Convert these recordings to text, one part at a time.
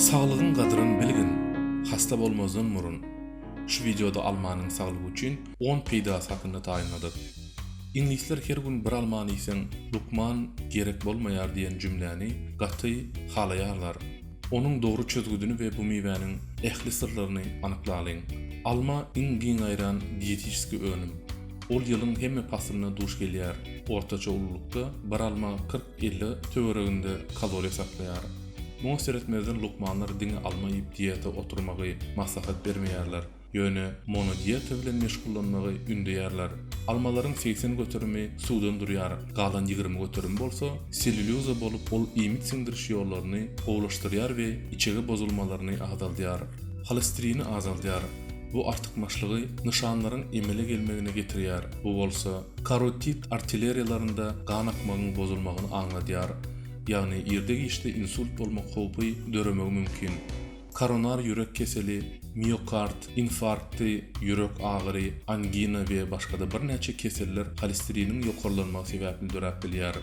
Saglygyň gadryn bilgin hasta bolmazdan burun şu wideoda almanyň saglyk üçin on peýdasy hakynda taýynladyk. Iňlisler her gün bir almany iýseň lukman gerek bolmaýar diýen jümläni gaty halaýarlar. Onuň dogry çözgüdini we bu miwäniň ähli syrlaryny anyklalyň. Alma iň giň gaýran diýetiçeski önüm. Ol ýylyň hemme paslyna duş gelýär. Ortaça ululykda bir alma kyrk-elli töwereginde kaloriýa saklaýar. Muňa seretmezden lukmanlar diňe alma iýip diýete oturmagy maslahat bermeýärler, ýöne monodiýeta bilen meşgullanmagy ündeýärler. Almalaryň segsen göterimi suwdan durýar, galan ýigrimi göterimi bolsa sellýulýoza bolup ol iýmit siňdiriş ýollaryny gowulaşdyrýar we içege bozulmalaryny azaldýar. Holesterini azaldýar. Bu artykmaçlygy nyşanlaryň emele gelmegine getirýär, bu bolsa karotit artilleriýalarynda gan akmagyň bozulmagyny aňladýar, ýagny irde-giçde insult bolmak howpy döremegi mümkin. Koronar ýürek keseli, miokard infarkty, ýürek agyry, angina we başga-da birnäçe keseller holesteriniň ýokarlanmagy sebäpli döräp bilýär.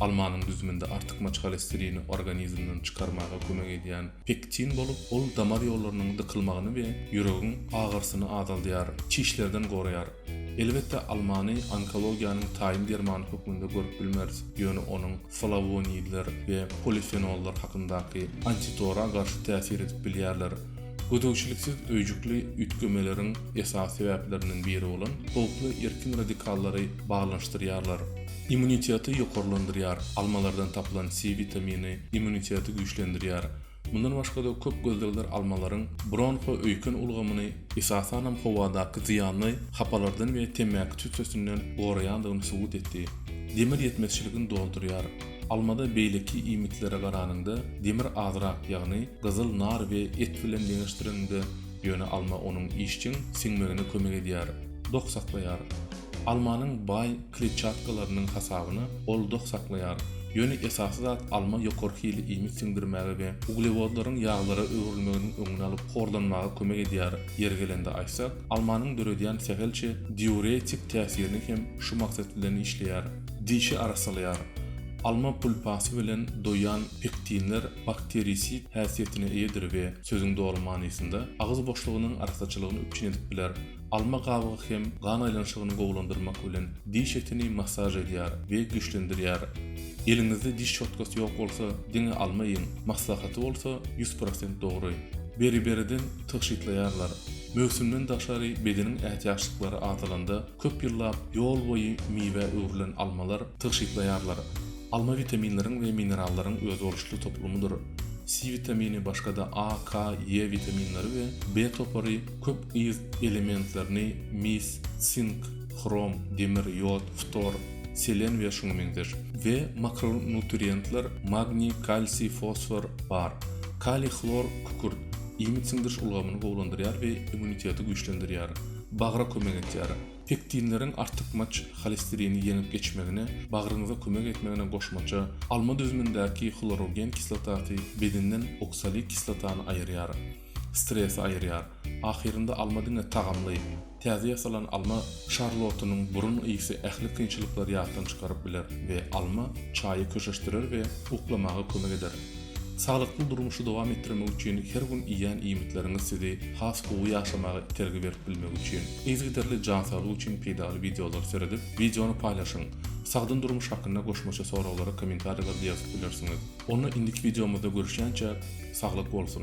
Almanyň düzüminde artykmaç holesterini organizmden çykarmaga kömek edýän Pektin bolup, ol damar ýollarynyň dykylmagyny we ýüregiň agyrsyny azaldýar, çişlerden goraýar. Elbetde, almany onkologiýanyň taýyn dermany hökmünde görüp bilmeris, ýöne onuň flawonidler we polifenollar hakyndaky antitora garşy täsir edip bilýärler. Gözegçiliksiz öýjükli üýtgemeleriň esasy sebäplerinden biri bolan howply erkin radikallary baglanyşdyrýarlar. Immuniteti ýokarlandyrýar, almalardan tapylan C witamini immuniteti güýçlendirýär. Mundan başga-da köp gözlegler almalaryň bronho-öýken ulgamyny, esasanam howadaky zyýanly hapalardan we temmäki tüssesinden goraýandygyny subut etdi. Demir ýetmezçiligini doldurýar. Almada beýleki iýmitlere garanyňda demir azrak, ýagny gyzyl nar we et bilen deňeşdiriňde, ýöne alma onuň işjeň siňmegine kömek edýär, dok saklaýar. Almanyň baý kletçatkalarynyň hasabyna ol doh saklaýar. Ýöne esasy zat alma ýokary hili iýmit siňdirmäge we uglewodlaryň ýaglara öwrülmeginiň öňüni alyp horlanmaga kömek edýär, ýeri gelende aýtsak, almanyň döredýän sähelçe diuretik täsirini hem şu maksat bilen işleýär. Dişi arassalaýar. Alma pulpasy bilen doýan pektinler bakterisid häsiýetine eýedir we, sözüň doly manysynda, agyz boşlugynyň arassaçylygyny üpjün edip biler. Alma gabygy hem gan aýlanyşygyny gowulandyrmak bilen, diş etini massaž edýär we güýçlendirýär. Eliňizde diş şotkasy ýok bolsa, diňe alma iýiň. Maslahaty bolsa ýüz prosent dogry. Beri-beriden tygşytlaýarlar. Möwsümden daşary bedeniň ätiýaçlyklary azalanda, köp ýyllap ýol boýy miwä öwrülen almalar tygşytlaýarlar. Alma witaminleriň we minerallaryň özboluşly toplumydyr. Si witamini başga-da A, K, E witaminleri we B topary Köp yz elementlerini, mis, sink, hrom, demir, ýod, ftor, selen we şuňa meňzeş, we makronutrientler, magniý, kalsiý, fosfor, bar. Kaliý, hlor, kükürt, iýmit siňdiriş ulgamyny gowulandyrýar we immuniteti güýçlendirýär. Bagra kömek etýär. Pektinleriň artykmaç holesterini ýeňip geçmegine, bagryňyza kömek etmegine goşmaça, alma düzümindäki hlorogen kislotasy bedenden oksalik kislotany aýyrýar. Stresi aýyrýar. Ahyrynda alma diňe tagamly. Täze ýasalan alma şarlotynyň burun ysy ähli kynçylyklary ýatdan çykaryp biler we alma çaýy köşeşdirer we uklamaga kömek eder. Saglykly durmuşy dowam etdirmek üçin her gün iýýän iýmitleriňiz sizi has gowy ýaşamaga itergi berip bilmegi üçin yzygiderli jan saglygy üçin peýdaly wideolary seredip wideony paýlaşyň. Sagdyn durmuş hakynda goşmaça soraglara kommentariýalarda ýazyp bilersiňiz. Onda indiki wideomyzda görüşýänçäk saglyk bolsun.